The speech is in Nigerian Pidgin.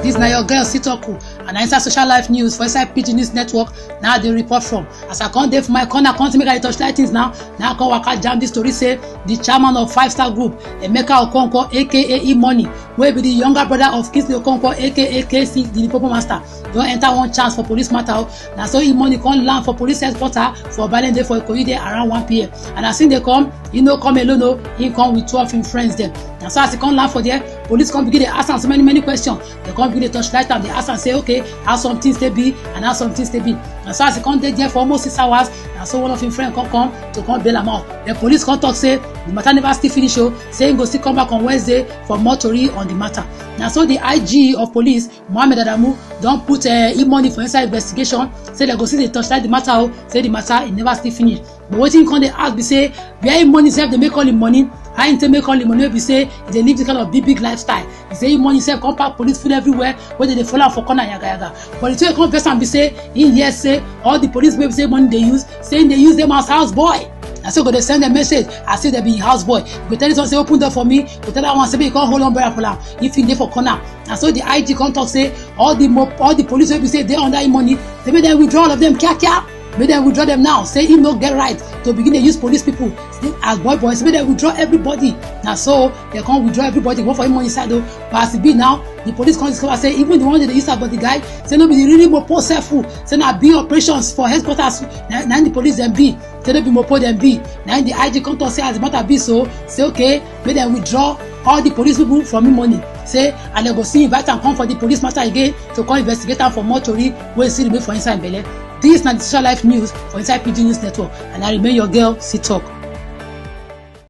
This na your girl Sitoku and I inside social life news for inside Pidgin News Network na I dey report from. As I come dey for my corner come see make I dey torchlight things now, na I come waka jam this story say the chairman of Five Star Group, Emeka Okonkwo aka E-Money wey be the younger brother of Kingsley Okonkwo aka KC the Lipopo Master don enter one chance for police matter o na so im money come land for police headquarter for balende for ikoyi there around one pm and as im dey come he no come alone o he come with two of im friends dem na so as he come land for there police come begin dey ask am so many many questions dem come begin dey torchlight am dey ask am say okay how some things dey be and how some things dey be na so as he come dey there for almost six hours na so one of im friend come come to come bail am out the police come talk say the matter never still finish o say he go still come back on wednesday for more tori on the matter na so the ig of police mohammed adamu don put uh, im money for inside investigation say dem go still dey torchlight the matter o say the matter e never still finish but wetin come dey ask be say where im money sef dey make all im money how im take make all im money wey be say e dey live the kind of big big lifestyle e say im money sef come pack police full everywhere wey dey dey follow am for corner yagayaga but the thing wey come vex am be say im hear say all the police wey be say money dey use say im dey use them as house boy na so go dey send dem message as if dem be house boy go tell this one say open door for me go tell that one say make you come hold umbrella for am if you dey for corner na so the ig come talk say all the mo all the police wey be say dey under him money say make dem withdraw all of them kiakia make dem withdraw them now say him no get right to begin dey use police people say as boy boy say make dem withdraw everybody na so dem come withdraw everybody comot for him money side o but as e be now the police come discover say even the one wey dey use am but the guy say no be the really mopo sef o say na big operations for headquarters na na the police dem be say no be mopo dem be na the ig come talk say as the matter be so say okay make dem withdraw all the police people from im money say and dem go still invite am come for the police matter again to come investigate am for more tori wey still remain for inside belle dis na di social life news for inside pidgin news network and i remain your girl see talk.